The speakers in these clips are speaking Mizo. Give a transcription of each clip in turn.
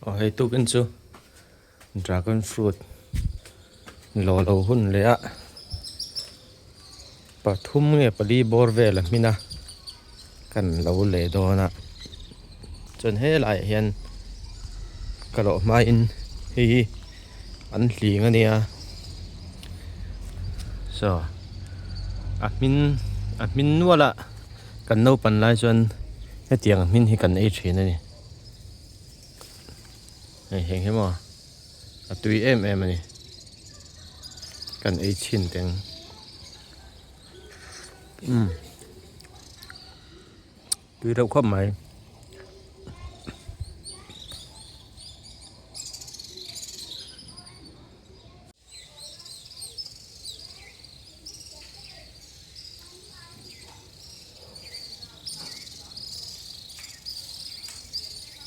Aw hei tukin chu dragon fruit lo lo hun leh a pathum nge pali bawr vel a hmina kan lo leh dawn a chuan helai ah hian ka rawh hmain hei hi an hling a nia so a hming a hming nual a. Kan lo pan lai chuan hetiang a hmin hi kan ei thin a ni. Hei heng hi maw? A tui em em a ni. Kan ei chin teng. Umm. Tui reuh khawp mai.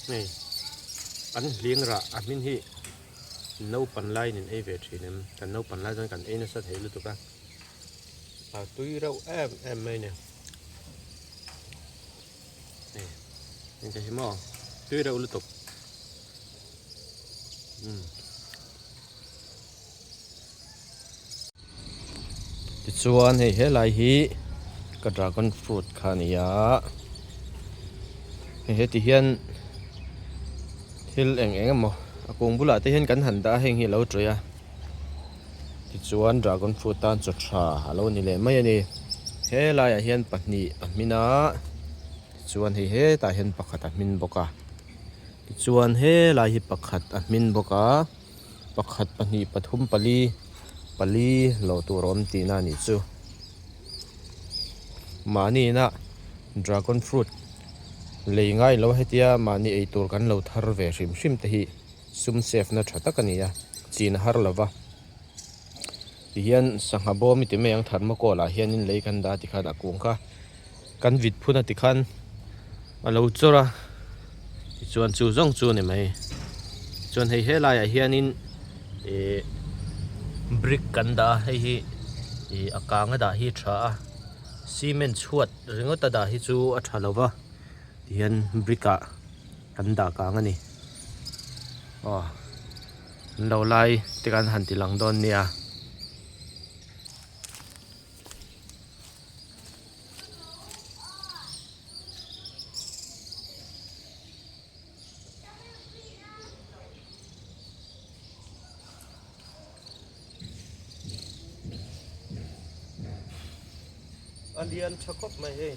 Hei, kan hliang rah a hming hi naupan lai nen ei ve thin em, kan naupan lai chuan kan ei nasa thei lutuk a, a tui reuh em em mai a nia. Engka hi maw? Tui reuh lutuk. Mm. Tichuan hei he lai hi ka dragon fruit kha ni a. Hei heti hian thil eng eng emaw a kung bulah te hian kan han dah a heng hi a lo ṭawi a. Tichuan dragon fruit tan chaw tha a lo ni leh mai a ni. He laiah hian pahnih a hmin a, tichuan hei hetah hian pakhat a hmin bawk a. Tichuan he lai hi pakhat a hmin bawk a, pakhat, pahnih, pathum, pali, pali lo tur a awm tihna a nih chu. Mahnihna dragon fruit lei ngai lo hetia mahni ei tur kan lo thar ve hrim hrim te hi. sum sefna tha tak a ni a, Chin a har lo va. Tihian sangha bawm i ti mai ang thermocol ah hianin lei kan dah tikhan a kung kha kan vit phun a tikhan a lo chawr a, tichuan chu zawng chu a ni mai. Tichuan hei helaiah hianin ih brick kan dah a, hei hi ih a kanga dah hi a tha a, cement chhuat ringawt a dah hi chu a tha lo va, tihian brick ah. Kan dah kang a ni. Aw, an lo lai te kan han ti lang dawn nia. a lian tha khawp mai hei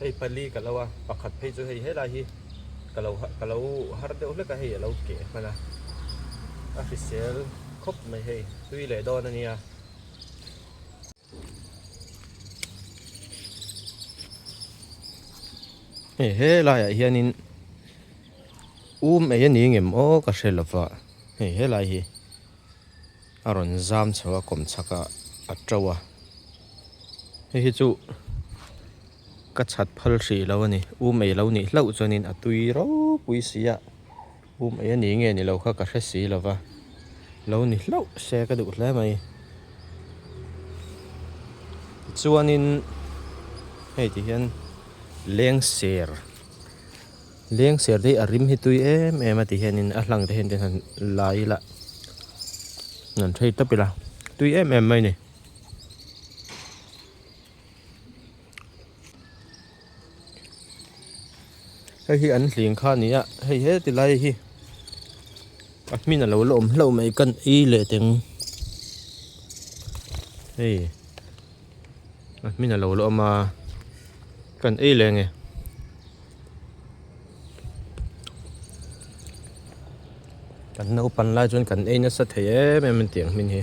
hei pali ka lo a pakhat phei chu hei helai hi ka lo ka lo har deuh hlek a hei a lo keh a hman a a hrisel khawp mai hei tui leh dawn a nia hei helai ah hian in-- Um ei a ni nge maw ka hre lova, hei helai hi a rawn zam chho a kawm chhak a a to a, hei hi chu ka chhat phal hrih lo a ni, um ei lo nih hlauh chuan in a tui ropui si a, um ei a ni nge ni lo kha ka hre si lova, lo ni hlauh se ka duh hle mai. Tichuan in hei ti hian lengser. Leng ser dei a rim hi tui em em a ti hian in a hlang te hian han la ila han thei tap ila tui em em mai ni. Hei hi an hling kha ni a hei he ti lai hi a hmin a lo la awm hlauh mai kan i leh teng hei a hmin a lo la awm a kan ei leh nge. Kan naupan lai chuan kan ei nasa thei em em an ti ang hmin hi.